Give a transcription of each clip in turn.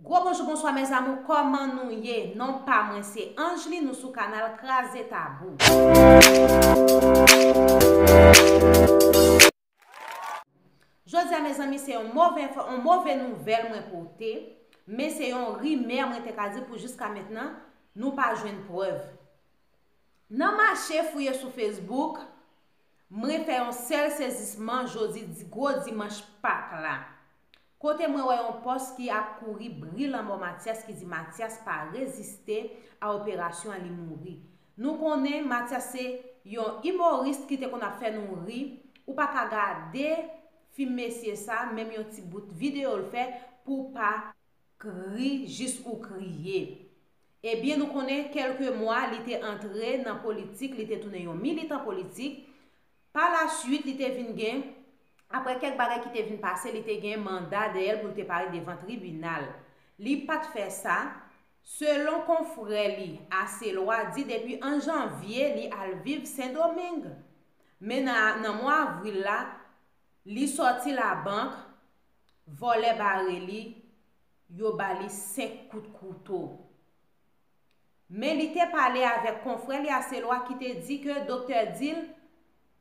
Gwo bonjou bonswa mes amour koman nou ye non pa mwen se Angeline nou sou kanal kraze tabou. Jodia mezanmi se yon move enfo yon move nouvel mwen pote men se yon rimè mwen te ka di pou jiska mentnan nou pa jwenn prev nan mache fouye sou Facebook mwen fè yon sel sezisman jodi gwo dimanch pak la Kote mwen wè yon pòs ki ap kouri bri lanmò Matyas ki di Matyas pa reziste a operasyon an li mouri. Nou konnen Matyas se Yon imorist ki te konn ap fè nou ri ou pa ka gade fim mesye sa menm yon ti bout video l fè pou w pa k ri jis ou kriye. Ebyen nou konnen kelke mwa li te antre nan politik li te tounen yon militan politik Pa la suit li te vin gen, aprè kèk bagay ki te vin pase li te gen manda dèyèl pou l te pare devan tribinal. Li pat fè sa, selon konfrè li Aselwa di depi 1 janvye li al viv Sendomeng. Men nan nan mwa avril la li sòti labank, vòlè bare li, yo ba li 5 kout kouto. Men li te pale avèk konfrè li Aselwa ki te di ke doktè di l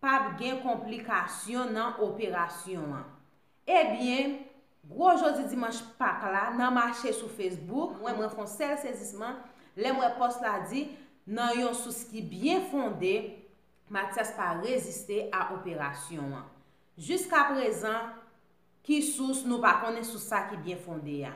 pap gen konplikasyon nan operasyon an. Ebyen, gwo jodi dimanch Pak la nan mache sou Facebook, mwen mwen fon sèl sezisman lè m wè pòs la di nan yon sous ki byen fonde, Matyas pa reziste a operasyon an. Jiskaprezan, Ki sous nou pa konnen sou sa ki byen fonde a?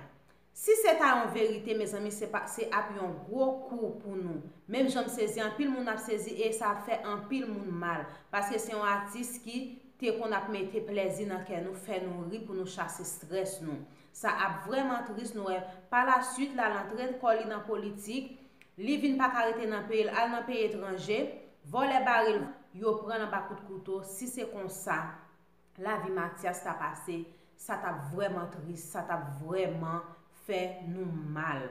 Si se ta yon verite mezanmi se pa se ap yon gwo kou pou nou, menm jan m sezi anpil moun ap sezi e sa ap fè anpil moun mal, paske se yon atis ki te konn ap mete plèzi nan kè nou fè nou ri pou nou chase strès nou. Sa ap vrèman tris nou wè pa la suit la l antre kò li nan politik, li vin pa ka rete nan peyi l al nan peyi etranje, vòlè bare l yo pran l anba kout kouto si se konsa lavi Matyas ta pase, sa t ap vrèman tris, sa t ap vrèman fè nou mal.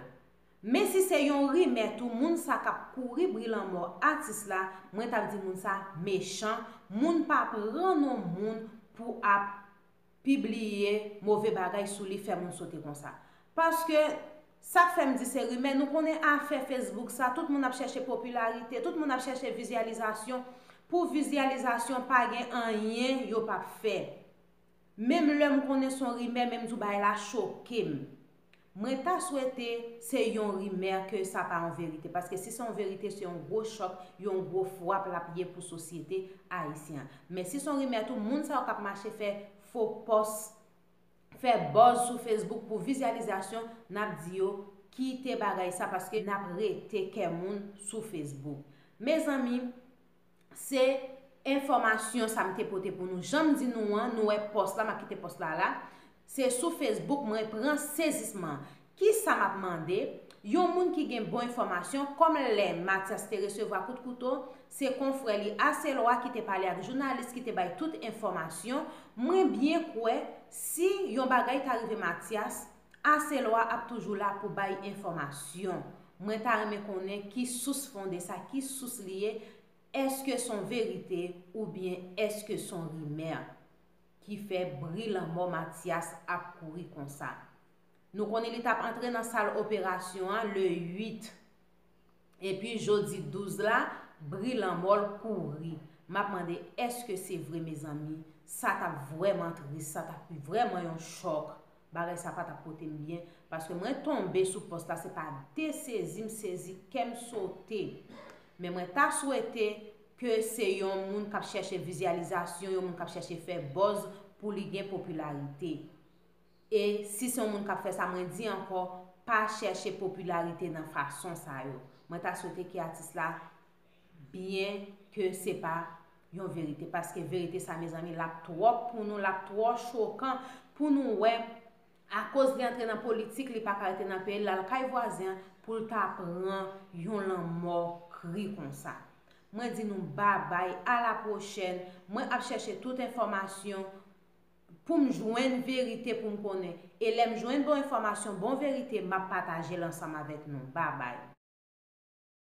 Men si se yon rimè tou, moun sa k ap kouri bri lanmò atis la, mwen t ap di moun sa mechan, moun pa pran non moun pou ap pibliye move bagay sou li, fè moun sote konsa. Paske Sak fèm di se rimè, nou konnen afè Facebook sa, tout moun ap chèche popilarite, tout moun ap chèche vizyalizasyon, pou vizyalizasyon pa gen anyen yo pap fè. Menm lèm konnen son rimè menm di w bagay la chokem. Mwen ta swete se yon rimè ke sa pa yon verite, paske si se yon verite se yon gwo chòk, yon gwo fwap lap ye pou sosyete ayisyen an. Men si son rimè tou moun sa yo kap mache fè fo pòs, fè buzz sou Facebook pou vizyalizasyon nap di yo kite bagay sa paske nap rete kè moun sou Facebook mezanmi se enfòmasyon sa m te pote pou nou janm di nou an nou wè pòs la map kite pòs la la se sou Facebook mwen pran sezisman Kisa m ap mande yon moun ki gen bon enfòmasyon kòm lè Matyas te resevwa kout kouto se konfrè li Aselwa ki te pale ak jounalis ki te bay tout enfòmasyon mwen byen kwè si yon bagay ta rive Matyas Aselwa ap toujou la pou bay enfòmasyon mwen ta renmen konnen ki sous fonde sa ki sous li ye èske s on verite oubyen èske s on rimè ki fè bri lanmò Matyas ap kouri konsa. Nou konnen li tap antre nan sal operasyon an le 8. Epi jodi 12 la, bri lanmò l kouri. M ap mande èske se vre mezanmi? Sa t ap vrèman tris, sa t ap vrèman yon chòk. Bagay sa pa t ap pote m byen. Paske mwen tonbe sou pòs la se pa de sezi m sezi, kè m sote. Men mwen ta swete ke se yon moun k ap chèche vizyalizasyon, yon moun k ap chèche fè buzz pou li gen popilarite. E si se yon moun k ap fè sa mwen di ankò pa chèche popilarite nan fason sa yo. Mwen ta swete ke atis la byen ke se pa yon verite paske verite sa mezanmi l ap twòp pou nou l ap twò chokan pou nou wè akoz li antre nan politik li pa ka rete nan peyi l l al kay vwazen an pou l ta pran yon lanmò kri konsa. Mwen di nou babay a la pwochèn mwen ap chèche tout enfòmasyon pou m jwenn verite pou m konnen e lè m jwenn bon enfòmasyon bon verite map pataje l ansanm avèk nou babay.